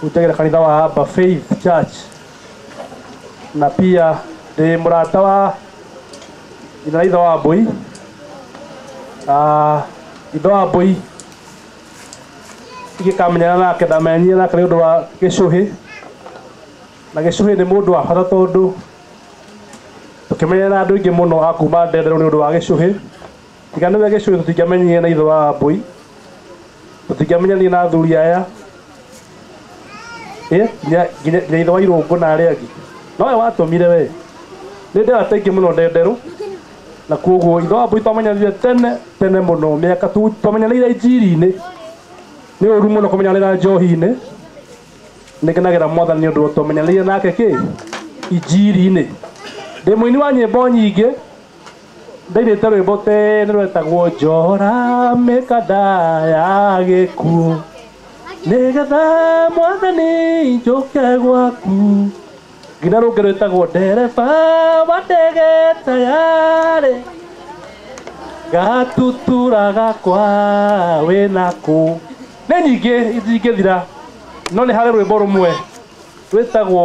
Hutagĩra kanitha wa Haba Faith Church na pia ndĩ mũrata wa nyina na ithe wa Mbũi. Ah, Ithe wa Mbũi ingĩkamenyana nake ndamenyire nake nĩ ũndũ wa Gĩcũhĩ, na Gĩcũhĩ nĩ mũndũ wa bata tondũ tũkĩmenyana na andũ aingĩ mũno a kuma Ndenderũ nĩ ũndũ wa Gĩcũhĩ. Tiga nĩwe gĩcũĩ tũtingĩamenyire na ithe wa Wambũi, tũtingĩamenyanire na athuri aya Ĩ, nginya nginya- nginya ithe wa Irũngũ na arĩa angĩ. Nowe watũmire we. Nĩ nderũ ataingĩ mũno ndĩ nderũ, na kuoguo ithe wa Wambũi twamenyanire tene tene mũno mĩaka tu- twamenyanĩire njiri-inĩ. Nĩ ũru mũno kũmenyanĩra njohi-inĩ. Nĩ ngenagĩra mwathani nĩ ũndũ twamenyanĩire nake kĩ? Injiri-inĩ. Ndĩ mũini wa nyĩmbo nyingĩ, ndainĩte rwĩmbo tene rwetagwo njora mĩkanda ya gĩkuũ nĩgetha mwathani njũke gwaku nginya rũngĩ rwĩtagwo ndereba wa ndege tayarĩ gatutura gakwa wĩnaku nĩ nyingĩ itingĩthira no nĩ harĩ rwĩmbo rũmwe rwĩtagwo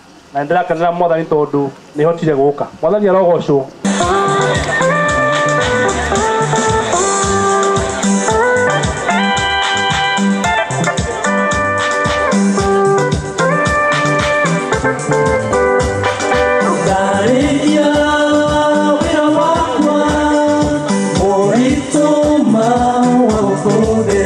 na nĩ ndĩrakenera mwathani tondũ nĩ hotire gũka mwathani arogocwo Ndarĩkia wĩra wakwa mũritũ ma wa ũbũthĩ